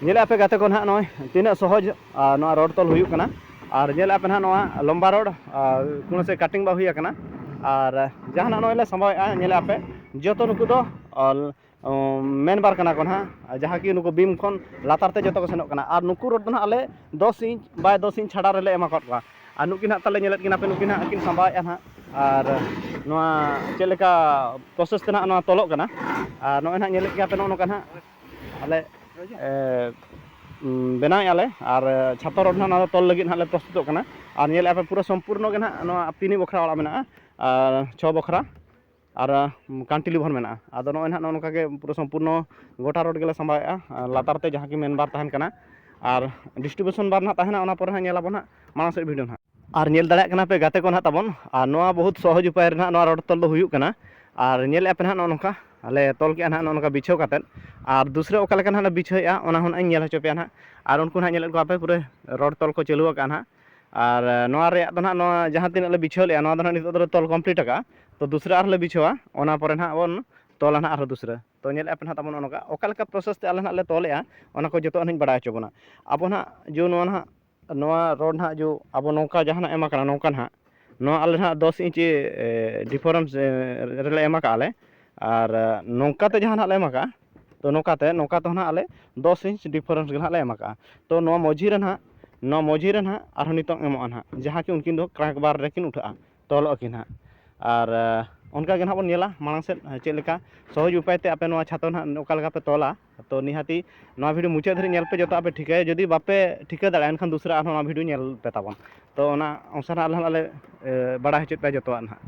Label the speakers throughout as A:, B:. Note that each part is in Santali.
A: ᱧᱮᱞᱮᱫ ᱟᱯᱮ ᱜᱟᱛᱮ ᱠᱚ ᱱᱟᱦᱟᱜ ᱱᱚᱜᱼᱚᱭ ᱛᱤᱱᱟᱹᱜ ᱥᱚᱦᱚᱡᱽ ᱱᱚᱣᱟ ᱨᱚᱰ ᱛᱚᱞ ᱦᱩᱭᱩᱜ ᱠᱟᱱᱟ ᱟᱨ ᱧᱮᱞᱮᱫ ᱟᱯᱮ ᱱᱟᱦᱟᱜ ᱱᱚᱣᱟ ᱞᱚᱢᱵᱟ ᱨᱚᱰ ᱠᱳᱱᱳ ᱥᱮ ᱠᱟᱴᱤᱝ ᱵᱟᱝ ᱦᱩᱭ ᱟᱠᱟᱱᱟ ᱟᱨ ᱡᱟᱦᱟᱱᱟᱜ ᱱᱚᱜᱼᱚᱭ ᱞᱮ ᱥᱟᱢᱵᱟᱣᱮᱫᱼᱟ ᱧᱮᱞᱮᱫ ᱟᱯᱮ ᱡᱚᱛᱚ ᱱᱩᱠᱩ ᱫᱚ ᱢᱮᱱ ᱵᱟᱨ ᱠᱟᱱᱟ ᱠᱚ ᱱᱟᱦᱟᱜ ᱡᱟᱦᱟᱸ ᱠᱤ ᱱᱩᱠᱩ ᱵᱤᱢ ᱠᱷᱚᱱ ᱞᱟᱛᱟᱨ ᱛᱮ ᱡᱚᱛᱚ ᱠᱚ ᱥᱮᱱᱚᱜ ᱠᱟᱱᱟ ᱟᱨ ᱱᱩᱠᱩ ᱨᱚᱰ ᱫᱚ ᱱᱟᱦᱟᱜ ᱟᱞᱮ ᱫᱚᱥ ᱤᱧᱪ ᱵᱟᱭ ᱫᱚᱥ ᱤᱧᱪ ᱪᱷᱟᱰᱟ ᱨᱮᱞᱮ ᱮᱢᱟ ᱠᱟᱫ ᱠᱚᱣᱟ ᱟᱨ ᱱᱩᱠᱤᱱ ᱱᱟᱦᱟᱜ ᱛᱟᱞᱮ ᱧᱮᱞᱮᱫ ᱠᱤᱱᱟ ᱯᱮ ᱱᱩᱠᱤᱱ ᱱᱟᱦᱟᱜ ᱠᱤᱱ ᱥᱟᱢᱵᱟᱣᱮᱫᱼᱟ ᱱᱟᱦᱟᱜ ᱟᱨ ᱱᱚᱣᱟ ᱪᱮᱫ ᱞᱮᱠᱟ ᱯᱨᱚᱥᱮᱥ ᱛᱮ ᱱᱟᱦᱟᱜ ᱱᱚᱣᱟ ᱛᱚᱞᱚᱜ ᱠᱟᱱᱟ ᱟᱨ ᱱᱚᱜᱼᱚᱭ ᱱᱟᱦᱟᱜ ᱧᱮᱞᱮᱫ ᱜᱮᱭᱟ ᱯᱮ ᱱᱚᱜᱼᱚ ᱱᱚᱝᱠᱟ ᱱᱟᱦᱟᱜ ᱟᱞᱮ ᱵᱮᱱᱟᱣᱮᱫᱼᱟ ᱞᱮ ᱟᱨ ᱪᱷᱟᱛᱚ ᱨᱚᱰ ᱱᱟᱦᱟᱜ ᱱᱚᱣᱟ ᱛᱚᱞ ᱞᱟᱹᱜᱤᱫ ᱱᱟᱦᱟᱜ ᱞᱮ ᱯᱨᱚᱥᱛᱩᱛᱚᱜ ᱠᱟᱱᱟ ᱟᱨ ᱧᱮᱞᱮᱫ ᱟᱯᱮ ᱯᱩᱨᱟᱹ ᱥᱚᱢᱯᱩᱨᱱᱚ ᱜᱮ ᱱᱟᱦᱟᱜ ᱱᱚᱣᱟ ᱛᱤᱱᱤ ᱵᱟᱠᱷᱨᱟ ᱚᱲᱟᱜ ᱢᱮᱱᱟᱜᱼᱟ ᱟᱨ ᱪᱷᱚ ᱵᱟᱠᱷᱨᱟ ᱟᱨ ᱠᱟᱱᱴᱤᱞᱤᱵᱷᱚᱨ ᱢᱮᱱᱟᱜᱼᱟ ᱟᱫᱚ ᱱᱚᱜᱼᱚᱭ ᱱᱟᱦᱟᱜ ᱱᱚᱜᱼᱚ ᱱᱚᱝᱠᱟ ᱜᱮ ᱯᱩᱨᱟᱹ ᱥᱚᱢᱯᱩᱨᱱᱚ ᱜᱚᱴᱟ ᱨᱳᱰ ᱜᱮᱞᱮ ᱥᱟᱢᱵᱟᱣᱮᱫᱼᱟ ᱞᱟᱛᱟᱨ ᱛᱮ ᱡᱟᱦᱟᱸ ᱜᱮ ᱢᱮᱱ ᱵᱟᱨ ᱛᱟᱦᱮᱱ ᱠᱟᱱᱟ ᱟᱨ ᱰᱤᱥᱴᱨᱤᱵᱤᱭᱩᱥᱚᱱ ᱵᱟᱨ ᱱᱟᱦᱟᱜ ᱛᱟᱦᱮᱱᱟ ᱚᱱᱟ ᱯᱚᱨᱮ ᱱᱟᱦᱟᱜ ᱧᱮᱞ ᱟᱵᱚᱱ ᱱᱟᱦᱟᱜ ᱢᱟᱲᱟᱝ ᱥᱮᱫ ᱵᱷᱤᱰᱤᱭᱳ ᱱᱟᱦᱟᱜ ᱟᱨ ᱧᱮᱞ ᱫᱟᱲᱮᱭᱟᱜ ᱠᱟᱱᱟ ᱯᱮ ᱜᱟᱛᱮ ᱠᱚ ᱱᱟᱦᱟᱜ ᱛᱟᱵᱚᱱ ᱟᱨ ᱱᱚᱣᱟ ᱵᱚᱦᱩᱛ ᱥᱚᱦᱚᱡᱽ ᱩᱯᱟᱭ ᱨᱮ ᱱᱟᱦᱟᱜ ᱱᱚᱣᱟ ᱨᱚᱰ ᱛᱚᱞ ᱫᱚ ᱦᱩᱭᱩᱜ ᱠᱟᱱᱟ ᱟᱨ ᱧᱮᱞᱮᱫᱼᱟ ᱯᱮ ᱱᱟᱦᱟᱜ ᱱᱚᱜᱼᱚ ᱱᱚᱝᱠᱟ ᱟᱞᱮ ᱛᱚᱞ ᱠᱮᱜᱼᱟ ᱱᱟᱦᱟᱜ ᱱᱚᱜᱼᱚ ᱱᱚᱝᱠᱟ ᱵᱤᱪᱷᱟᱹᱣ ᱠᱟᱛᱮᱫ ᱟᱨ ᱫᱩᱥᱨᱟᱹ ᱚᱠᱟ ᱞᱮᱠᱟ ᱱᱟᱦᱟᱜ ᱞᱮ ᱵᱤᱪᱷᱟᱹᱣᱮᱜᱼᱟ ᱚᱱᱟ ᱦᱚᱸ ᱱᱟᱦᱟᱜ ᱤᱧ ᱧᱮᱞ ᱦᱚᱪᱚ ᱯᱮᱭᱟ ᱱᱟᱦᱟᱜ ᱟᱨ ᱩᱱᱠᱩ ᱱᱟᱦᱟᱜ ᱧᱮᱞᱮᱫ ᱠᱚᱣᱟ ᱯᱮ ᱯᱩᱨᱟᱹ ᱨᱚᱰ ᱛᱚᱞ ᱠᱚ ᱪᱟᱹᱞᱩ ᱟᱠᱟᱜᱼᱟ ᱱᱟᱦᱟᱜ ᱟᱨ ᱱᱚᱣᱟ ᱨᱮᱭᱟᱜ ᱫᱚ ᱱᱟᱦᱟᱜ ᱱᱚᱣᱟ ᱡᱟᱦᱟᱸ ᱛᱤᱱᱟᱹᱜ ᱞᱮ ᱵᱤᱪᱷᱟᱹᱣ ᱞᱮᱜᱼᱟ ᱱᱚᱣᱟ ᱫᱚ ᱱᱟᱦᱟᱜ ᱱᱤᱛᱚᱜ ᱫᱚᱞᱮ ᱛᱚᱞ ᱠᱚᱢᱯᱞᱤᱴ ᱟᱠᱟᱜᱼᱟ ᱛᱚ ᱫᱩᱥᱨᱟᱹ ᱟᱨᱦᱚᱸ ᱞᱮ ᱵᱤᱪᱷᱟᱹᱣᱟ ᱚᱱᱟ ᱯᱚᱨᱮ ᱱᱟᱦᱟᱜ ᱵᱚᱱ ᱛᱚᱞᱟ ᱱᱟᱦᱟᱜ ᱟᱨᱦᱚᱸ ᱫᱩᱥᱨᱟᱹ ᱛᱚ ᱧᱮᱞᱮᱫᱼᱟ ᱯᱮ ᱱᱟᱦᱟᱜ ᱛᱟᱵᱚᱱ ᱱᱚᱜᱼᱚ ᱱᱚᱝᱠᱟ ᱚᱠᱟ ᱞᱮᱠᱟ ᱯᱨᱚᱥᱮᱥ ᱛᱮ ᱟᱞᱮ ᱱᱟᱦᱟᱜ ᱞᱮ ᱛᱚᱞᱮᱜᱼᱟ ᱚᱱᱟ ᱠᱚ ᱡᱚᱛᱚᱣᱟᱜ ᱱᱟᱦᱟᱜ ᱤᱧ ᱵᱟᱲᱟᱭ ᱦᱚᱪᱚ ᱵᱚᱱᱟ ᱟᱵᱚ ᱱᱟᱦᱟᱜ ᱡᱮ ᱱᱚᱣᱟ ᱱᱟᱦᱟᱜ ᱱᱚᱣᱟ ᱨᱳᱰ ᱱᱟᱦᱟᱜ ᱡᱚ ᱟᱵᱚ ᱱᱚᱝᱠᱟ ᱡᱟᱦᱟᱱᱟᱜ ᱮᱢ ᱟᱠᱟᱱᱟ ᱱᱚᱝᱠᱟ ᱱᱟᱦᱟᱜ ᱱᱚᱣᱟ ᱟᱞᱮ ᱱᱟᱦᱟᱜ ᱫᱚᱥ ᱤᱧᱪᱤ ᱰᱤᱯᱷᱚᱨᱮᱱᱥ ᱨᱮᱞᱮ ᱮᱢ ᱟᱠᱟᱫᱼᱟ ᱞᱮ ᱟᱨ ᱱᱚᱝᱠᱟ ᱛᱮ ᱡᱟᱦᱟᱱᱟᱜ ᱞᱮ ᱮᱢ ᱟᱠᱟᱫᱼᱟ ᱛᱚ ᱱᱚᱝᱠᱟ ᱛᱮ ᱱᱚᱝᱠᱟ ᱛᱮᱦᱚᱸ ᱱᱟᱦᱟᱜ ᱟᱞᱮ ᱫᱚᱥ ᱤᱧᱪᱤ ᱰᱤᱯᱷᱚᱨᱮᱱᱥ ᱜᱮ ᱱᱟᱦᱟᱜ ᱞᱮ ᱮᱢ ᱟᱠᱟᱫᱼᱟ ᱛᱚ ᱱᱚᱣᱟ ᱢᱟᱹᱡᱷᱤ ᱨᱮ ᱱᱟᱦᱟᱜ ᱱᱚᱣᱟ ᱢᱟᱹᱡᱷᱤ ᱨᱮ ᱱᱟᱦᱟᱜ ᱟᱨᱦᱚᱸ ᱱᱤᱛᱚᱜ ᱮᱢᱚᱜᱼᱟ ᱱᱟᱦᱟᱜ ᱡᱟᱦᱟᱸ ᱠᱤ ᱩᱱᱠᱤᱱ ᱫᱚ ᱠᱟᱨᱠ ᱵᱟᱨ ᱨᱮᱠᱤᱱ ᱩᱴᱷᱟᱹᱜᱼᱟ ᱛᱚᱞᱚᱜ ᱟᱹᱠᱤᱱ ᱦᱟᱸᱜ ᱟᱨ ᱚᱱᱠᱟ ᱜᱮ ᱱᱟᱦᱟᱜ ᱵᱚᱱ ᱧᱮᱞᱟ ᱢᱟᱲᱟᱝ ᱥᱮᱫ ᱪᱮᱫ ᱞᱮᱠᱟ ᱥᱚᱦᱚᱡᱽ ᱩᱯᱟᱭ ᱛᱮ ᱟᱯᱮ ᱱᱚᱣᱟ ᱪᱷᱟᱛᱚ ᱱᱟᱦᱟᱜ ᱚᱠᱟ ᱞᱮᱠᱟ ᱯᱮ ᱛᱚᱞᱟ ᱛᱚ ᱱᱤᱦᱟᱹᱛᱤ ᱱᱚᱣᱟ ᱵᱷᱤᱰᱭᱳ ᱢᱩᱪᱟᱹᱫ ᱫᱷᱟᱹᱨᱤᱡ ᱧᱮᱞ ᱯᱮ ᱡᱚᱛᱚᱣᱟᱜ ᱯᱮ ᱴᱷᱤᱠᱟᱹᱭᱟ ᱡᱩᱫᱤ ᱵᱟᱯᱮ ᱴᱷᱤᱠᱟᱹ ᱫᱟᱲᱮᱭᱟᱜᱼᱟ ᱮᱱᱠᱷᱟᱱ ᱫᱚᱥᱨᱟ ᱟᱨᱦᱚᱸ ᱱᱚᱣᱟ ᱵᱷᱤᱰᱭᱳ ᱧᱮᱞ ᱯᱮ ᱛᱟᱵᱚᱱ ᱛᱚ ᱚᱱᱟ ᱚᱱᱠᱟ ᱱᱟᱦᱟᱜ ᱟᱞᱮ ᱦᱚᱸ ᱞᱮ ᱵᱟᱲᱟᱭ ᱦᱚᱪᱚᱭᱮᱫ ᱯᱮᱭᱟ ᱡᱚᱛᱚᱣᱟᱜ ᱱᱟᱦᱟᱜ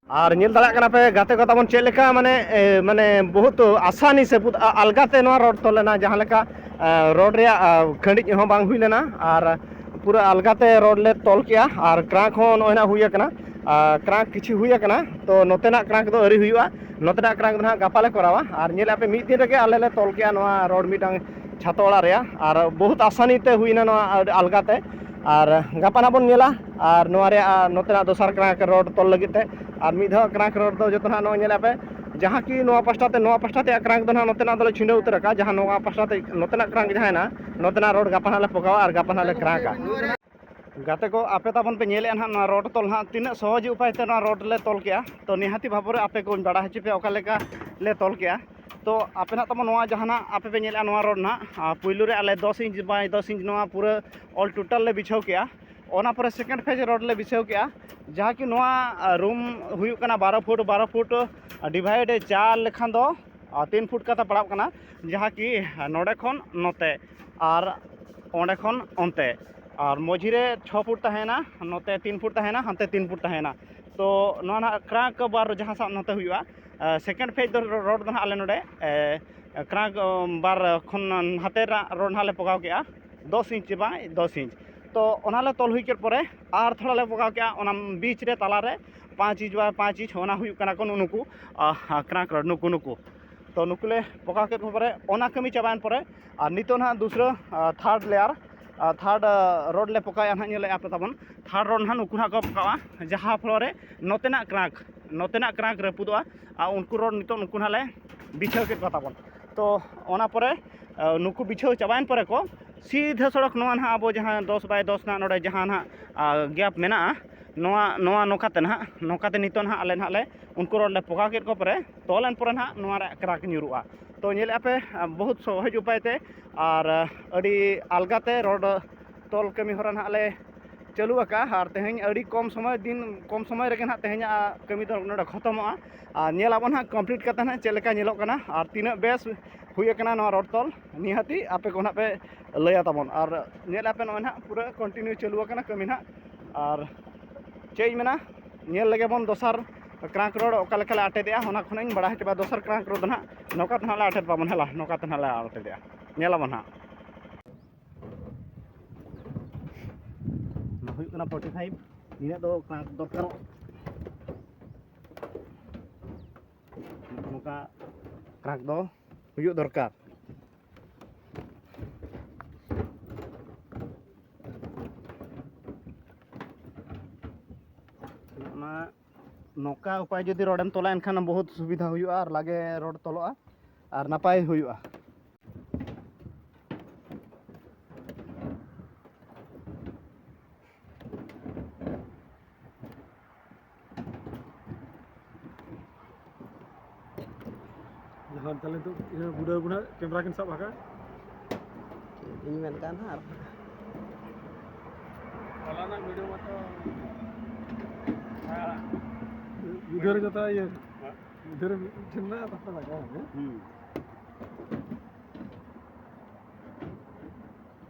A: ᱟᱨ ᱧᱮᱞ ᱫᱟᱲᱮᱭᱟᱜ ᱠᱟᱱᱟ ᱯᱮ ᱜᱟᱛᱮ ᱠᱚ ᱛᱟᱵᱚᱱ ᱪᱮᱫ ᱞᱮᱠᱟ ᱢᱟᱱᱮ ᱢᱟᱱᱮ ᱵᱚᱦᱩᱛ ᱟᱥᱟᱱᱤ ᱥᱮ ᱟᱞᱜᱟᱛᱮ ᱱᱚᱣᱟ ᱨᱚᱰ ᱛᱚᱞ ᱮᱱᱟ ᱡᱟᱦᱟᱸ ᱞᱮᱠᱟ ᱨᱚᱰ ᱨᱮᱭᱟᱜ ᱠᱷᱟᱹᱰᱤ ᱦᱚᱸ ᱵᱟᱝ ᱦᱩᱭ ᱞᱮᱱᱟ ᱟᱨ ᱯᱩᱨᱟᱹ ᱟᱞᱜᱟᱛᱮ ᱨᱚᱰ ᱞᱮ ᱛᱚᱞ ᱠᱮᱜᱼᱟ ᱟᱨ ᱠᱨᱟᱸᱠ ᱦᱚᱸ ᱱᱚᱜᱼᱚᱭ ᱱᱟᱜ ᱦᱩᱭ ᱟᱠᱟᱱᱟ ᱟᱨ ᱠᱨᱟᱸᱠ ᱠᱤᱪᱷᱩ ᱦᱩᱭ ᱟᱠᱟᱱᱟ ᱛᱚ ᱱᱚᱛᱮᱱᱟᱜ ᱠᱨᱟᱸᱠ ᱫᱚ ᱟᱹᱣᱨᱤ ᱦᱩᱭᱩᱜᱼᱟ ᱱᱚᱛᱮᱱᱟᱜ ᱠᱨᱟᱸᱠ ᱫᱚ ᱱᱟᱦᱟᱜ ᱜᱟᱯᱟ ᱞᱮ ᱠᱚᱨᱟᱣᱟ ᱟᱨ ᱧᱮᱞ ᱟᱯᱮ ᱢᱤᱫ ᱫᱤᱱ ᱨᱮᱜᱮ ᱟᱞᱮ ᱞᱮ ᱛᱚᱞ ᱠᱮᱜᱼᱟ ᱱᱚᱣᱟ ᱨᱚᱰ ᱢᱤᱫᱴᱟᱝ ᱪᱷᱟᱛᱟ ᱚᱲᱟᱜ ᱨᱮᱭᱟᱜ ᱟᱨ ᱵᱚᱦᱩᱛ ᱟᱥᱟᱱᱤ ᱛᱮ ᱦᱩᱭᱱᱟ ᱱᱚᱣᱟ ᱟᱹᱰᱤ ᱟᱞᱜᱟ ᱛᱮ ᱟᱨ ᱜᱟᱯᱟ ᱱᱟᱜ ᱵᱚᱱ ᱧᱮᱞᱟ ᱟᱨ ᱱᱚᱣᱟ ᱨᱮᱭᱟᱜ ᱱᱚᱛᱮᱱᱟᱜ ᱫᱚᱥᱟᱨ ᱠᱨᱟᱸᱠ ᱨᱚᱰ ᱛᱚᱞ ᱞᱟᱹᱜᱤᱫ ᱛᱮ ᱟᱨ ᱢᱤᱫ ᱫᱷᱟᱣ ᱠᱨᱟᱸᱠ ᱨᱚᱰ ᱫᱚ ᱡᱚᱛᱚ ᱱᱟᱜ ᱱᱚᱜᱼᱚᱭ ᱧᱮᱞᱮᱫᱼᱟ ᱯᱮ ᱡᱟᱦᱟᱸ ᱠᱤ ᱱᱚᱣᱟ ᱯᱟᱥᱴᱟ ᱛᱮ ᱱᱚᱣᱟ ᱯᱟᱥᱴᱟ ᱛᱮᱭᱟᱜ ᱠᱨᱟᱝ ᱫᱚ ᱱᱟᱦᱟᱜ ᱱᱚᱛᱮᱱᱟᱜ ᱫᱚᱞᱮ ᱪᱷᱤᱰᱟᱹᱣ ᱩᱛᱟᱹᱨ ᱠᱟᱜᱼᱟ ᱡᱟᱦᱟᱸ ᱱᱚᱣᱟ ᱯᱟᱥᱴᱟ ᱛᱮ ᱱᱚᱛᱮᱱᱟᱜ ᱠᱨᱟᱝ ᱡᱟᱦᱟᱸ ᱦᱮᱱᱟᱜ ᱱᱚᱛᱮᱱᱟᱜ ᱨᱚᱰ ᱜᱟᱯᱟ ᱦᱟᱸᱜ ᱞᱮ ᱯᱚᱜᱟᱣᱟ ᱟᱨ ᱜᱟᱯᱟ ᱦᱟᱸᱜ ᱞᱮ ᱠᱨᱟᱝᱟ ᱜᱟᱛᱮ ᱠᱚ ᱟᱯᱮ ᱛᱟᱵᱚᱱ ᱯᱮ ᱧᱮᱞᱮᱫᱼᱟ ᱱᱟᱦᱟᱜ ᱱᱚᱣᱟ ᱨᱚᱰ ᱛᱚᱞ ᱱᱟᱦᱟᱜ ᱛᱤᱱᱟᱹᱜ ᱥᱚᱦᱚᱡᱽ ᱩᱯᱟᱭ ᱛᱮ ᱱᱚᱣᱟ ᱨᱚᱰ ᱞᱮ ᱛᱚᱞ ᱠᱮᱜᱼᱟ ᱛᱚ ᱱᱤᱦᱟᱹᱛᱤ ᱵᱷᱟᱵᱽ ᱨᱮ ᱟᱯᱮ ᱠᱚᱧ ᱵᱟᱲᱟᱭ ᱦᱚᱪᱚ ᱯᱮᱭᱟ ᱚᱠᱟ ᱞᱮᱠᱟ ᱞᱮ ᱛᱚᱞ ᱠᱮᱜᱼᱟ ᱛᱚ ᱟᱯᱮ ᱱᱟᱦᱟᱜ ᱛᱟᱵᱚᱱ ᱱᱚᱣᱟ ᱡᱟᱦᱟᱱᱟᱜ ᱟᱯᱮ ᱯᱮ ᱧᱮᱞᱮᱫᱼᱟ ᱱᱚᱣᱟ ᱨᱚᱰ ᱱᱟᱦᱟᱜ ᱯᱩᱭᱞᱩ ᱨᱮ ᱟᱞᱮ ᱫᱚᱥ ᱤᱧᱪ ᱵᱟᱭ ᱫᱚᱥ ᱤᱧᱪ ᱱᱚᱣᱟ ᱯᱩᱨᱟᱹ ᱚᱞ ᱴᱳᱴᱟᱞ ᱞᱮ ᱵᱤᱪᱷᱟᱹᱣ ᱠᱮᱜᱼᱟ ᱚᱱᱟ ᱯᱚᱨᱮ ᱥᱮᱠᱮᱱᱰ ᱯᱷᱮᱡᱽ ᱨᱚᱰ ᱞᱮ ᱵᱤᱪᱷᱟᱹᱣ ᱠᱮᱜᱼᱟ ᱡᱟᱦᱟᱸ ᱠᱤ ᱱᱚᱣᱟ ᱨᱩᱢ ᱦᱩᱭᱩᱜ ᱠᱟᱱᱟ ᱵᱟᱨᱚ ᱯᱷᱩᱴ ᱵᱟᱨᱚ ᱯᱷᱩᱴ ᱰᱤᱵᱷᱟᱭᱤᱰ ᱪᱟᱨ ᱞᱮᱠᱷᱟᱱ ᱫᱚ ᱛᱤᱱ ᱯᱷᱩᱴ ᱠᱟᱛᱮ ᱯᱟᱲᱟᱜ ᱠᱟᱱᱟ ᱡᱟᱦᱟᱸ ᱠᱤ ᱱᱚᱰᱮ ᱠᱷᱚᱱ ᱱᱚᱛᱮ ᱟᱨ ᱚᱸᱰᱮ ᱠᱷᱚᱱ ᱚᱱᱛᱮ ᱟᱨ ᱢᱚᱡᱽ ᱨᱮ ᱪᱷᱚ ᱯᱷᱩᱴ ᱛᱟᱦᱮᱱᱟ ᱱᱚᱛᱮ ᱛᱤᱱ ᱯᱷᱩᱴ ᱛᱟᱦᱮᱱᱟ ᱦᱟᱱᱛᱮ ᱛᱤᱱ ᱯᱷᱩᱴ ᱛᱟᱦᱮᱱᱟ ᱛᱚ ᱱᱚᱣᱟ ᱱᱟᱦᱟᱜ ᱠᱨᱟᱸᱠ ᱵᱟᱨ ᱡᱟᱦᱟᱸ ᱥᱟᱵ ᱱᱚᱛᱮ ᱦᱩᱭᱩᱜᱼᱟ ᱥᱮᱠᱮᱱᱰ ᱯᱷᱮᱡᱽ ᱫᱚ ᱨᱚᱰ ᱫᱚ ᱱᱟᱦᱟᱜ ᱟᱞᱮ ᱱᱚᱰᱮ ᱠᱨᱟᱸᱠ ᱵᱟᱨ ᱠᱷᱚᱱ ᱦᱟᱛᱮᱨᱟᱜ ᱨᱚᱰ ᱱᱟᱦᱟᱜ ᱞᱮ ᱯᱚᱜᱟᱣ ᱠᱮᱜᱼᱟ ᱫᱚᱥ ᱤᱧᱪ ᱵᱟᱝ ᱫᱚᱥ ᱤᱧᱪ ᱛᱚ ᱚᱱᱟᱞᱮ ᱛᱚᱞ ᱦᱩᱭ ᱠᱮᱫ ᱯᱚᱨᱮ ᱟᱨ ᱛᱷᱚᱲᱟ ᱞᱮ ᱵᱚᱜᱟᱣ ᱠᱮᱫᱼᱟ ᱚᱱᱟ ᱵᱤᱪ ᱨᱮ ᱛᱟᱞᱟ ᱨᱮ ᱯᱟᱸᱪ ᱤᱧᱪ ᱵᱟᱭ ᱯᱟᱸᱪ ᱤᱧᱪ ᱚᱱᱟ ᱦᱩᱭᱩᱜ ᱠᱟᱱᱟ ᱠᱚ ᱱᱩᱠᱩ ᱠᱨᱟᱸᱠ ᱨᱚᱰ ᱱᱩᱠᱩ ᱱᱩᱠᱩ ᱛᱚ ᱱᱩᱠᱩ ᱞᱮ ᱵᱚᱜᱟᱣ ᱠᱮᱫ ᱠᱚ ᱯᱚᱨᱮ ᱚᱱᱟ ᱠᱟᱹᱢᱤ ᱪᱟᱵᱟᱭᱮᱱ ᱯᱚᱨᱮ ᱟᱨ ᱱᱤᱛᱚᱜ ᱱᱟᱦᱟᱜ ᱫᱩᱥᱨᱟᱹ ᱛᱷᱟᱨᱰ ᱞᱮᱭᱟᱨ ᱛᱷᱟᱨᱰ ᱨᱚᱰ ᱞᱮ ᱯᱚᱠᱟᱣᱮᱫᱼᱟ ᱱᱟᱦᱟᱜ ᱧᱮᱞᱮᱫᱼᱟ ᱯᱮ ᱛᱟᱵᱚᱱ ᱛᱷᱟᱨᱰ ᱨᱚᱰ ᱱᱟᱦᱟᱜ ᱱᱩᱠᱩ ᱱᱟᱦᱟᱜ ᱠᱚ ᱯᱚᱠᱟᱣᱟ ᱡᱟᱦᱟᱸ ᱯᱷᱞᱳᱨ ᱨᱮ ᱱᱚᱛᱮᱱᱟᱜ ᱠᱨᱟᱸᱠ ᱱᱚᱛᱮᱱᱟᱜ ᱠᱨᱟᱸᱠ ᱨᱟᱹᱯᱩᱫᱚᱜᱼᱟ ᱟᱨ ᱩᱱᱠᱩ ᱨᱚᱰ ᱱᱤᱛᱚᱜ ᱱᱩᱠᱩ ᱱᱟᱦᱟᱜ ᱞᱮ ᱵᱤᱪᱷᱟᱹᱣ ᱠᱮᱫ ᱠᱚᱣᱟ ᱛᱟᱵᱚᱱ ᱛᱚ ᱚᱱᱟ ᱯᱚᱨᱮ ᱱᱩᱠᱩ ᱵᱤᱪᱷᱟᱹᱣ ᱪᱟᱵᱟᱭᱮᱱ ᱯᱚᱨᱮ ᱠᱚ ᱥᱤᱫᱷᱟᱹ ᱥᱚᱲᱚᱠ ᱱᱚᱣᱟ ᱱᱟᱦᱟᱜ ᱟᱵᱚ ᱡᱟᱦᱟᱸ ᱫᱚᱥ ᱵᱟᱭ ᱫᱚᱥ ᱱᱟᱦᱟᱜ ᱱᱚᱰᱮ ᱡᱟᱦᱟᱸ ᱱᱟᱦᱟᱜ ᱜᱮᱯ ᱢᱮᱱᱟᱜᱼᱟ ᱱᱚᱣᱟ ᱱᱚᱣᱟ ᱱᱚᱝᱠᱟ ᱛᱮ ᱱᱟᱦᱟᱜ ᱱᱚᱝᱠᱟ ᱛᱮ ᱱᱤᱛᱚᱜ ᱱᱟᱦᱟᱜ ᱟᱞᱮ ᱱᱟᱦᱟᱜ ᱞᱮ ᱩᱱᱠᱩ ᱨᱚᱰ ᱞᱮ ᱯᱚᱠᱟᱣ ᱠᱮᱫ ᱠᱚᱣᱟ ᱯᱚᱨᱮ ᱛᱚᱞ ᱮᱱ ᱯᱚᱨᱮ ᱱᱟᱦᱟᱜ ᱱᱚᱣᱟ ᱨᱮᱭᱟᱜ ᱠᱨᱟᱠ ᱧᱩᱨᱩᱜᱼᱟ ᱛᱚ ᱧᱮᱞᱮᱫᱼᱟ ᱯᱮ ᱵᱚᱦᱩᱫ ᱥᱚᱦᱚᱡᱽ ᱩᱯᱟᱭ ᱛᱮ ᱟᱨ ᱟᱹᱰᱤ ᱟᱞᱜᱟ ᱛᱮ ᱨᱚᱰ ᱛᱚᱞ ᱠᱟᱹᱢᱤ ᱦᱚᱨᱟ ᱱᱟᱦᱟᱜ ᱞᱮ ᱪᱟᱹᱞᱩ ᱟᱠᱟᱫᱼᱟ ᱟᱨ ᱛᱮᱦᱮᱧ ᱟᱹᱰᱤ ᱠᱚᱢ ᱥᱚᱢᱚᱭ ᱫᱤᱱ ᱠᱚᱢ ᱥᱚᱢᱚᱭ ᱨᱮᱜᱮ ᱱᱟᱦᱟᱜ ᱛᱮᱦᱮᱧᱟᱜ ᱠᱟᱹᱢᱤ ᱫᱚ ᱱᱚᱰᱮ ᱠᱷᱚᱛᱚᱢᱚᱜᱼᱟ ᱟᱨ ᱧᱮᱞ ᱟᱵᱚᱱ ᱱᱟᱦᱟᱜ ᱠᱚᱢᱯᱞᱤᱴ ᱠᱟᱛᱮᱫ ᱱᱟᱦᱟᱜ ᱪᱮᱫ ᱞᱮᱠᱟ ᱧᱮᱞᱚᱜ ᱠᱟᱱᱟ ᱟᱨ ᱛᱤᱱᱟᱹᱜ ᱵᱮᱥ ᱦᱩᱭ ᱟᱠᱟᱱᱟ ᱱᱚᱣᱟ ᱨᱚᱰ ᱛᱚᱞ ᱱᱤᱦᱟᱹᱛᱤ ᱟᱯᱮ ᱠᱚ ᱱᱟᱦᱟᱜ ᱯᱮ ᱞᱟᱹᱭᱟ ᱛᱟᱵᱚᱱ ᱟᱨ ᱧᱮᱞ ᱟᱯᱮ ᱱᱚᱜᱼᱚᱭ ᱱᱟᱦᱟᱜ ᱯᱩᱨᱟᱹ ᱠᱚᱱᱴᱤᱱᱤᱭᱩ ᱪᱟᱹᱞᱩ ᱟᱠᱟᱱᱟ ᱠᱟᱹᱢᱤ ᱱᱟᱦᱟᱜ ᱟᱨ ᱪᱮᱫ ᱤᱧ ᱢᱮᱱᱟ ᱧᱮᱞ ᱞᱮᱜᱮ ᱵᱚᱱ ᱫᱚᱥᱟᱨ ᱠᱨᱟᱸᱠ ᱨᱚᱰ ᱚᱠᱟ ᱞᱮᱠᱟ ᱞᱮ ᱟᱴᱮᱫᱮᱜᱼᱟ ᱚᱱᱟ ᱠᱷᱚᱱᱟᱜ ᱤᱧ ᱵᱟᱲᱟᱭ ᱦᱚᱪᱚ ᱫᱚᱥᱟᱨ ᱠᱨᱟᱸᱠ ᱨᱚᱰ ᱫᱚ ᱱᱟᱦᱟᱜ ᱱᱚᱝᱠᱟ ᱛᱮ ᱱᱟᱦᱟᱜ ᱞᱮ ᱟᱴᱮᱫ ᱛᱟᱵᱚᱱ ᱦᱮᱞᱟ ᱱᱚᱝᱠᱟ ᱛᱮ ᱱᱟᱦᱟᱜ ᱞᱮ ᱟᱴᱮᱫᱮᱜᱼᱟ ᱧᱮᱞ ᱟᱵᱚᱱ ᱱᱟᱦᱟᱜ ᱱᱚᱣᱟ ᱦᱩᱭᱩᱜ ᱠᱟᱱᱟ ᱯᱷᱳᱨᱴᱤ ᱯᱷᱟᱭᱤᱵᱷ ᱱᱤᱱᱟᱹᱜ ᱫᱚ ᱠᱨᱟᱸᱠ ᱫᱚᱨᱠᱟᱨᱚᱜ ᱱᱚᱝᱠᱟ ᱠᱨᱟᱠ ᱫᱚ ᱦᱩᱭᱩᱜ ᱫᱚᱨᱠᱟᱨ ᱚᱱᱟ ᱱᱚᱝᱠᱟ ᱩᱯᱟᱭ ᱡᱩᱫᱤ ᱨᱚᱰᱮᱢ ᱛᱚᱞᱟ ᱮᱱᱠᱷᱟᱱ ᱵᱚᱦᱩᱛ ᱥᱩᱵᱤᱫᱷᱟ ᱦᱩᱭᱩᱜᱼᱟ ᱟᱨ ᱞᱟᱜᱮ ᱨᱚᱰ ᱛᱚᱞᱚᱜᱼᱟ ᱟᱨ ᱱᱟᱯᱟᱭ ᱦᱩᱭᱩᱜᱼᱟ
B: ᱡᱚᱦᱟᱨ ᱛᱟᱦᱚᱞᱮ ᱱᱤᱛᱚᱜ ᱤᱭᱟᱹ ᱵᱩᱰᱟᱹᱣ ᱵᱚᱱᱟ ᱠᱮᱢᱮᱨᱟ ᱠᱤᱱ ᱥᱟᱵ ᱟᱠᱟᱫᱼᱟ
A: ᱤᱧ ᱢᱮᱱ ᱠᱟᱱ ᱦᱟᱸᱜ ᱦᱚᱞᱟᱱᱟᱜ
B: ᱵᱷᱤᱰᱤᱭᱳ ᱢᱟᱛᱚ ᱩᱫᱷᱟᱹᱨ ᱡᱚᱛᱚ ᱤᱭᱟᱹ ᱩᱫᱷᱟᱹᱨ ᱢᱤᱫᱴᱷᱮᱱ ᱢᱮᱱᱟᱜᱼᱟ ᱛᱟᱯᱮ ᱞᱟᱜᱟᱣ ᱦᱮᱸ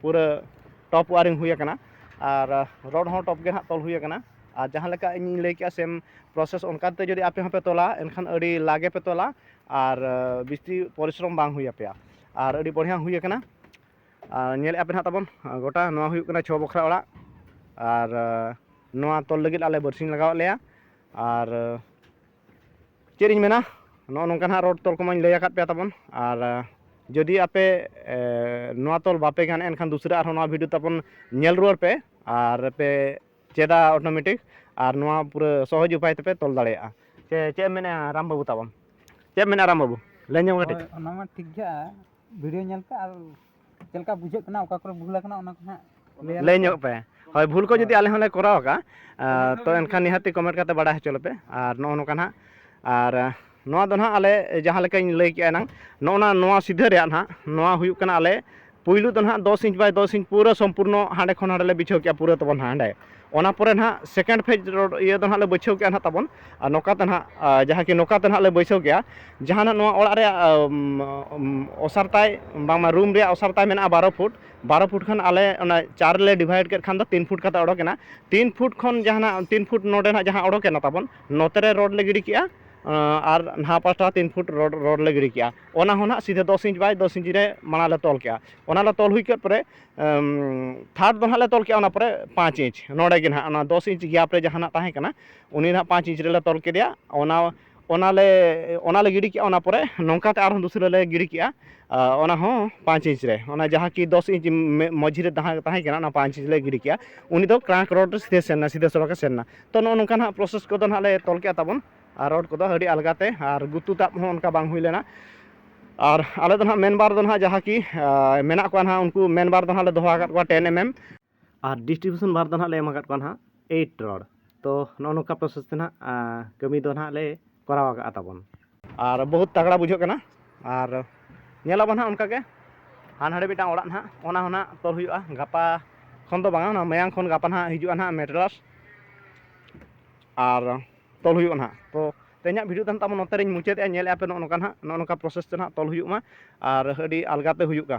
A: ᱯᱩᱨᱟᱹ ᱴᱚᱯ ᱳᱣᱟᱨᱤᱝ ᱦᱩᱭ ᱟᱠᱟᱱᱟ ᱟᱨ ᱨᱚᱰ ᱦᱚᱸ ᱴᱚᱯ ᱜᱮ ᱱᱟᱦᱟᱜ ᱛᱚᱞ ᱦᱩᱭ ᱟᱠᱟᱱᱟ ᱟᱨ ᱡᱟᱦᱟᱸ ᱞᱮᱠᱟ ᱤᱧᱤᱧ ᱞᱟᱹᱭ ᱠᱮᱜᱼᱟ ᱥᱮᱢ ᱯᱨᱚᱥᱮᱥ ᱚᱱᱠᱟᱛᱮ ᱡᱩᱫᱤ ᱟᱯᱮ ᱦᱚᱸᱯᱮ ᱛᱚᱞᱟ ᱮᱱᱠᱷᱟᱱ ᱟᱹᱰᱤ ᱞᱟᱜᱮ ᱯᱮ ᱛᱚᱞᱟ ᱟᱨ ᱵᱤᱥᱛᱤ ᱯᱚᱨᱤᱥᱨᱚᱢ ᱵᱟᱝ ᱦᱩᱭ ᱟᱯᱮᱭᱟ ᱟᱨ ᱟᱹᱰᱤ ᱵᱚᱲᱦᱭᱟ ᱦᱩᱭ ᱟᱠᱟᱱᱟ ᱟᱨ ᱧᱮᱞᱮᱜᱼᱟ ᱯᱮ ᱱᱟᱦᱟᱜ ᱛᱟᱵᱚᱱ ᱜᱚᱴᱟ ᱱᱚᱣᱟ ᱦᱩᱭᱩᱜ ᱠᱟᱱᱟ ᱪᱷᱚ ᱵᱚᱠᱷᱨᱟ ᱚᱲᱟᱜ ᱟᱨ ᱱᱚᱣᱟ ᱛᱚᱞ ᱞᱟᱹᱜᱤᱫ ᱟᱞᱮ ᱵᱟᱹᱨᱥᱤᱧ ᱞᱟᱜᱟᱣᱟᱫ ᱞᱮᱭᱟ ᱟᱨ ᱪᱮᱫ ᱤᱧ ᱢᱮᱱᱟ ᱱᱚᱜᱼᱚ ᱱᱚᱝᱠᱟ ᱱᱟᱦᱟᱜ ᱨᱳᱰ ᱛᱚᱞ ᱠᱚᱢᱟᱧ ᱞᱟᱹᱭ ᱟᱠᱟᱫ ᱯᱮᱭᱟ ᱛᱟᱵᱚᱱ ᱟᱨ ᱡᱩᱫᱤ ᱟᱯᱮ ᱱᱚᱣᱟ ᱛᱚᱞ ᱵᱟᱯᱮ ᱜᱟᱱ ᱮᱱᱠᱷᱟᱱ ᱫᱩᱥᱨᱟ ᱟᱨᱦᱚᱸ ᱱᱚᱣᱟ ᱵᱷᱤᱰᱤᱭᱳ ᱛᱟᱵᱚᱱ ᱧᱮᱞ ᱨᱩᱣᱟᱹᱲ ᱯᱮ ᱟᱨ ᱯᱮ ᱪᱮᱫᱟ ᱚᱴᱳᱢᱮᱴᱤᱠ ᱟᱨ ᱱᱚᱣᱟ ᱯᱩᱨᱟᱹ ᱥᱚᱦᱚᱡᱽ ᱩᱯᱟᱭ ᱛᱮᱯᱮ ᱛᱚᱞ ᱫᱟᱲᱮᱭᱟᱜᱼᱟ ᱪᱮ ᱪᱮᱫ ᱮᱢ ᱢᱮᱱᱮᱫᱼᱟ ᱨᱟᱢ ᱵᱟᱹᱵᱩ ᱛᱟᱵᱚᱱ ᱪᱮᱫ ᱮᱢ ᱢᱮᱱᱮᱫᱼᱟ ᱨᱟᱢ ᱵᱟᱹᱵᱩ ᱞᱟᱹᱭ ᱧᱚᱜ ᱠᱟᱹᱴᱤᱡ ᱚᱱᱟ ᱢᱟ ᱴᱷᱤᱠ ᱜᱮᱭᱟ
C: ᱵᱷᱤᱰᱤᱭᱳ ᱧᱮᱞ ᱯᱮ ᱟᱨ ᱪᱮᱫ ᱞᱮᱠᱟ ᱵᱩᱡᱷᱟᱹᱜ ᱠᱟᱱᱟ ᱚᱠᱟ ᱠᱚᱨᱮ ᱵᱷᱩᱞ ᱟᱠᱟᱱᱟ ᱚᱱᱟ ᱠᱚ ᱦᱟᱸᱜ ᱞᱟᱹᱭ ᱧᱚᱜ ᱯᱮ
A: ᱦᱳᱭ ᱵᱷᱩᱞ ᱠᱚ ᱡᱩᱫᱤ ᱟᱞᱮ ᱦᱚᱸᱞᱮ ᱠᱚᱨᱟᱣ ᱟᱠᱟᱫ ᱛᱚ ᱮᱱᱠᱷᱟᱱ ᱱᱤᱦᱟᱹᱛᱤ ᱠᱚᱢᱮᱱᱴ ᱠᱟᱛᱮ ᱵᱟᱲᱟᱭ ᱦᱚᱪᱚ ᱞᱮᱯᱮ ᱟᱨ ᱱᱚᱜᱼᱚ ᱱᱚᱝᱠᱟ ᱱᱟᱦᱟᱜ ᱟᱨ ᱱᱚᱣᱟ ᱫᱚ ᱱᱟᱦᱟᱜ ᱟᱞᱮ ᱡᱟᱦᱟᱸ ᱞᱮᱠᱟᱧ ᱞᱟᱹᱭ ᱠᱮᱜᱼᱟ ᱱᱟᱝ ᱱᱚᱜᱼᱚ ᱱᱟ ᱱᱚᱣᱟ ᱥᱤᱫᱷᱟᱹ ᱨᱮᱭᱟᱜ ᱱᱟᱦᱟᱜ ᱱᱚᱣᱟ ᱦᱩᱭᱩᱜ ᱠᱟᱱᱟ ᱟᱞᱮ ᱯᱩᱭᱞᱩ ᱫᱚ ᱱᱟᱦᱟᱜ ᱫᱚᱥ ᱤᱧᱪ ᱵᱟᱭ ᱫᱚᱥ ᱤᱧᱪ ᱯᱩᱨᱟᱹ ᱥᱚᱢᱯᱩᱨᱱᱚ ᱦᱟᱸᱰᱮ ᱠᱷᱚᱱ ᱦᱟᱸᱰᱮ ᱞᱮ ᱵᱤᱪᱷᱟᱹᱣ ᱠᱮᱜᱼᱟ ᱯᱩᱨᱟᱹ ᱛᱟᱵᱚᱱ ᱦᱟᱸᱜ ᱦᱟᱸᱰᱮ ᱚᱱᱟ ᱯᱚᱨᱮ ᱱᱟᱦᱟᱜ ᱥᱮᱠᱮᱱᱰ ᱯᱷᱮᱡᱽ ᱨᱳᱰ ᱤᱭᱟᱹ ᱫᱚ ᱱᱟᱦᱟᱜ ᱞᱮ ᱵᱟᱹᱭᱥᱟᱹᱣ ᱠᱮᱜᱼᱟ ᱱᱟᱦᱟᱜ ᱛᱟᱵᱚᱱ ᱟᱨ ᱱᱚᱝᱠᱟ ᱛᱮ ᱱᱟᱦᱟᱜ ᱡᱟᱦᱟᱸ ᱠᱤ ᱱᱚᱝᱠᱟ ᱛᱮ ᱱᱟᱦᱟᱜ ᱞᱮ ᱵᱟᱹᱭᱥᱟᱹᱣ ᱠᱮᱜᱼᱟ ᱡᱟᱦᱟᱸ ᱱᱟᱦᱟᱜ ᱱᱚᱣᱟ ᱚᱲᱟᱜ ᱨᱮᱭᱟᱜ ᱚᱥᱟᱨ ᱛᱟᱭ ᱵᱟᱝᱢᱟ ᱨᱩᱢ ᱨᱮᱭᱟᱜ ᱚᱥᱟᱨ ᱛᱟᱭ ᱢᱮᱱᱟᱜᱼᱟ ᱵᱟᱨᱚ ᱯᱷᱩᱴ ᱵᱟᱨᱚ ᱯᱷᱩᱴ ᱠᱷᱚᱱ ᱟᱞᱮ ᱚᱱᱟ ᱪᱟᱨ ᱞᱮ ᱰᱤᱵᱷᱟᱭᱤᱰ ᱠᱮᱫ ᱠᱷᱟᱱ ᱫᱚ ᱛᱤᱱ ᱯᱷᱩᱴ ᱠᱟᱛᱮᱫ ᱚᱰᱚᱠ ᱮᱱᱟ ᱛᱤᱱ ᱯᱷᱩᱴ ᱠᱷᱚᱱ ᱡᱟᱦᱟᱸ ᱱᱟᱦᱟᱜ ᱛᱤᱱ ᱯᱷᱩᱴ ᱱᱚᱰᱮ ᱱᱟᱦᱟᱜ ᱡᱟᱦᱟᱸ ᱚᱰᱚᱠ ᱮᱱᱟ ᱛᱟᱵᱚᱱ ᱱᱚᱛᱮ ᱨᱮ ᱨᱚᱰ ᱞᱮ ᱜᱤᱰᱤ ᱠᱮᱜᱼᱟ ᱟᱨ ᱱᱟᱣᱟ ᱯᱟᱥᱴᱟ ᱛᱤᱱ ᱯᱷᱩᱴ ᱨᱚᱰ ᱨᱚᱰ ᱞᱮ ᱜᱤᱰᱤ ᱠᱮᱜᱼᱟ ᱚᱱᱟ ᱦᱚᱸ ᱱᱟᱦᱟᱜ ᱥᱤᱫᱷᱟᱹ ᱫᱚᱥ ᱤᱧᱪ ᱵᱟᱭ ᱫᱚᱥ ᱤᱧᱪ ᱨᱮ ᱢᱟᱲᱟᱝ ᱞᱮ ᱛᱚᱞ ᱠᱮᱜᱼᱟ ᱚᱱᱟ ᱞᱮ ᱛᱚᱞ ᱦᱩᱭ ᱠᱮᱫ ᱯᱚᱨᱮ ᱛᱷᱟᱨᱰ ᱫᱚ ᱱᱟᱦᱟᱜ ᱞᱮ ᱛᱚᱞ ᱠᱮᱫᱼᱟ ᱚᱱᱟ ᱯᱚᱨᱮ ᱯᱟᱸᱪ ᱤᱧᱪ ᱱᱚᱰᱮ ᱜᱮ ᱱᱟᱦᱟᱜ ᱚᱱᱟ ᱫᱚᱥ ᱤᱧᱪ ᱜᱮᱯ ᱨᱮ ᱡᱟᱦᱟᱱᱟᱜ ᱛᱟᱦᱮᱸ ᱠᱟᱱᱟ ᱩᱱᱤ ᱱᱟᱦᱟᱜ ᱯᱟᱸᱪ ᱤᱧᱪ ᱨᱮᱞᱮ ᱛᱚᱞ ᱠᱮᱫᱮᱭᱟ ᱚᱱᱟ ᱚᱱᱟᱞᱮ ᱚᱱᱟᱞᱮ ᱜᱤᱰᱤ ᱠᱮᱫᱼᱟ ᱚᱱᱟ ᱯᱚᱨᱮ ᱱᱚᱝᱠᱟ ᱛᱮ ᱟᱨᱦᱚᱸ ᱫᱩᱥᱨᱟᱹ ᱞᱮ ᱜᱤᱰᱤ ᱠᱮᱫᱼᱟ ᱚᱱᱟ ᱦᱚᱸ ᱯᱟᱸᱪ ᱤᱧᱪ ᱨᱮ ᱚᱱᱟ ᱡᱟᱦᱟᱸ ᱠᱤ ᱫᱚᱥ ᱤᱧᱪ ᱢᱟᱹᱡᱷᱤ ᱨᱮ ᱛᱟᱦᱮᱸ ᱠᱟᱱᱟ ᱚᱱᱟ ᱯᱟᱸᱪ ᱤᱧᱪ ᱞᱮ ᱜᱤᱰᱤ ᱠᱮᱫᱼᱟ ᱩᱱᱤ ᱫᱚ ᱠᱨᱟᱸᱠ ᱨᱳᱰ ᱨᱮ ᱥᱤᱫᱷᱟᱹ ᱥᱮᱱ ᱮᱱᱟ ᱥᱤᱫᱷᱟᱹ ᱥᱚᱲᱚᱠᱮ ᱥᱮᱱ ᱮᱱᱟ ᱛᱳ ᱱᱚᱜᱼᱚ ᱱᱚᱝᱠᱟ ᱱᱟᱦᱟᱜ ᱯᱨᱚᱥᱮᱥ ᱠᱚᱫᱚ ᱱᱟᱦᱟᱜ ᱞᱮ ᱛᱚᱞ ᱠᱮᱫᱼᱟ ᱛᱟᱵᱚᱱ ᱟᱨ ᱨᱚᱰ ᱠᱚᱫᱚ ᱟᱹᱰᱤ ᱟᱞᱜᱟᱛᱮ ᱟᱨ ᱜᱩᱛᱩ ᱛᱟᱵ ᱦᱚᱸ ᱚᱱᱠᱟ ᱵᱟᱝ ᱦᱩᱭ ᱞᱮᱱᱟ ᱟᱨ ᱟᱞᱮ ᱫᱚ ᱱᱟᱦᱟᱜ ᱢᱮᱱᱵᱟᱨ ᱫᱚ ᱱᱟᱦᱟᱜ ᱡᱟᱦᱟᱸ ᱠᱤ ᱢᱮᱱᱟᱜ ᱠᱚᱣᱟ ᱱᱟᱦᱟᱜ ᱩᱱᱠᱩ ᱢᱮᱱᱵᱟᱨ ᱫᱚ ᱱᱟᱦᱟᱜ ᱞᱮ ᱫᱚᱦᱚ ᱟᱠᱟᱫ ᱠᱚᱣᱟ ᱴᱮᱱ ᱮᱢ ᱮᱢ ᱟᱨ ᱰᱤᱥᱴᱨᱤᱵᱤᱭᱩᱥᱚᱱ ᱵᱟᱨ ᱫᱚ ᱱᱟᱦᱟᱜ ᱞᱮ ᱮᱢ ᱟᱠᱟᱫ ᱠᱚᱣᱟ ᱱᱟᱦᱟᱜ ᱮᱭᱤᱴ ᱨᱚᱰ ᱛᱚ ᱱᱚᱜᱼᱚ ᱱᱚᱝᱠᱟ ᱯᱨᱚᱥᱮᱥ ᱛᱮ ᱱᱟᱦᱟᱜ ᱠᱟᱹᱢᱤ ᱫᱚ ᱱᱟᱦᱟᱜ ᱞᱮ ᱠᱚᱨᱟᱣ ᱟᱠᱟᱫᱼᱟ ᱛᱟᱵᱚᱱ ᱟᱨ ᱵᱚᱦᱩᱛ ᱛᱟᱜᱽᱲᱟ ᱵᱩᱡᱷᱟᱹᱜ ᱠᱟᱱᱟ ᱟᱨ ᱧᱮᱞ ᱟᱵᱚᱱ ᱱᱟᱦᱟᱜ ᱚᱱᱠᱟᱜᱮ ᱦᱟᱱᱦᱟᱲᱮ ᱢᱤᱫᱴᱟᱝ ᱚᱲᱟᱜ ᱱᱟᱦᱟᱜ ᱚᱱᱟ ᱦᱚᱸ ᱱᱟᱦᱟᱜ ᱛᱚᱞ ᱦᱩᱭᱩᱜᱼᱟ ᱜᱟᱯᱟ ᱠᱷᱚᱱ ᱫᱚ ᱵᱟᱝᱟ ᱚᱱᱟ ᱢᱮᱭᱟᱝ ᱠᱷᱚᱱ ᱜᱟᱯᱟ ᱱᱟᱦᱟᱜ ᱦᱤᱡᱩᱜᱼᱟ ᱱᱟᱦᱟᱜ ᱢᱮᱴᱨᱟᱥ ᱟᱨ ᱛᱚᱞ ᱦᱩᱭᱩᱜᱼᱟ ᱱᱟᱦᱟᱜ ᱛᱚ ᱛᱮᱦᱮᱧᱟᱜ ᱵᱷᱤᱰᱤᱭᱳ ᱛᱟᱦᱮᱱ ᱛᱟᱵᱚᱱ ᱱᱚᱛᱮ ᱨᱮᱧ ᱢᱩᱪᱟᱹᱫᱮᱜᱼᱟ ᱧᱮᱞᱮᱜᱼᱟ ᱯᱮ ᱱᱚᱜᱼᱚ ᱱᱚᱝᱠᱟ ᱱᱟᱦᱟᱜ ᱱᱚᱜᱼᱚ ᱱᱚᱝᱠᱟ ᱯᱨᱚᱥᱮᱥ ᱛᱮ ᱱᱟᱦᱟᱜ ᱛᱚᱞ ᱦᱩᱭᱩᱜ ᱢᱟ ᱟᱨ ᱟᱹᱰᱤ ᱟᱞᱜᱟᱛᱮ ᱦᱩᱭᱩᱜᱼᱟ